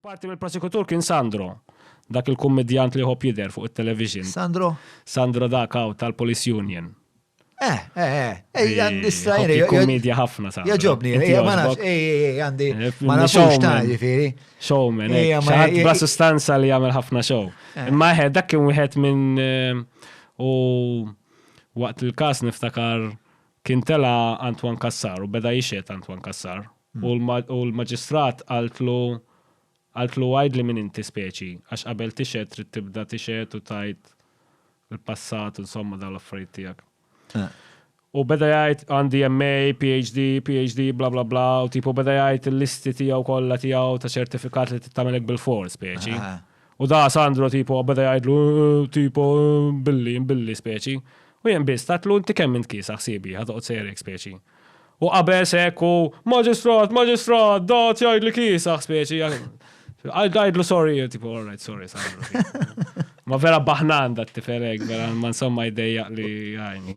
Parti mill-prosekutur kien Sandro, dak il-kummedjant li jħobb jidher fuq it-television. Sandro? Sandro dak hawn tal-Police Union. Eh, eh, eh, eh għandi strajri. Kummedja ħafna sa. Jaġobni, eh, ma nafx, eh, eh, eh għandi. Eh, ma nafx ta' ġifiri. Showman, eh. Xaħat bla sustanza li għamil ħafna show. Imma ħed, dak kien wieħed minn u waqt il-kas niftakar kien tela Antwan Kassar u beda jixet Antwan Kassar. U l-maġistrat qaltlu, qaltlu għidli min inti speċi, għax qabel tixhed trid tibda tixhed u tgħid il-passat u insomma dawn l-affarijiet tiegħek. U beda jgħid għandi MA, PhD, PhD, bla bla bla, u tipo beda jgħid il-listi tiegħu kollha tiegħu ta' ċertifikat li tagħmelek bil-fors speċi. U da Sandro tipo beda jgħidlu tipo billi, billi speċi. U jien biss tatlu inti kemm int kiesa ħsiebi ħad toqgħod sejrek speċi. U qabeż hekk u maġistrat, maġistrat, dat jgħid li kiesaħ speċi. Għajdlu sorry, tipo, all right, sorry, sorry. Ma vera baħnan dat tifel hekk, vera ma insomma jdejjaq li għajni.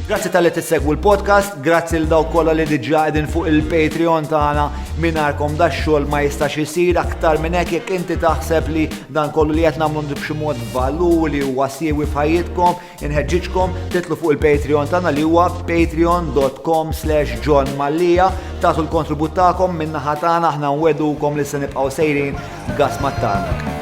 Grazzi tal-li tissegwu l-podcast, grazzi l-daw kolla li diġa edin fuq il-Patreon tagħna minarkom da xogħol ma jistax isir aktar minn hekk jekk inti taħseb li dan kollu li qed nagħmlu b'xi mod valur li huwa siewi f'ħajjitkom, Inħeġġiġkom titlu fuq il-Patreon tagħna li huwa patreon.com slash John Mallia tagħtu l-kontribut tagħkom min-naħa tagħna aħna nwedukom li se nibqgħu sejrin gas mat-tarnak.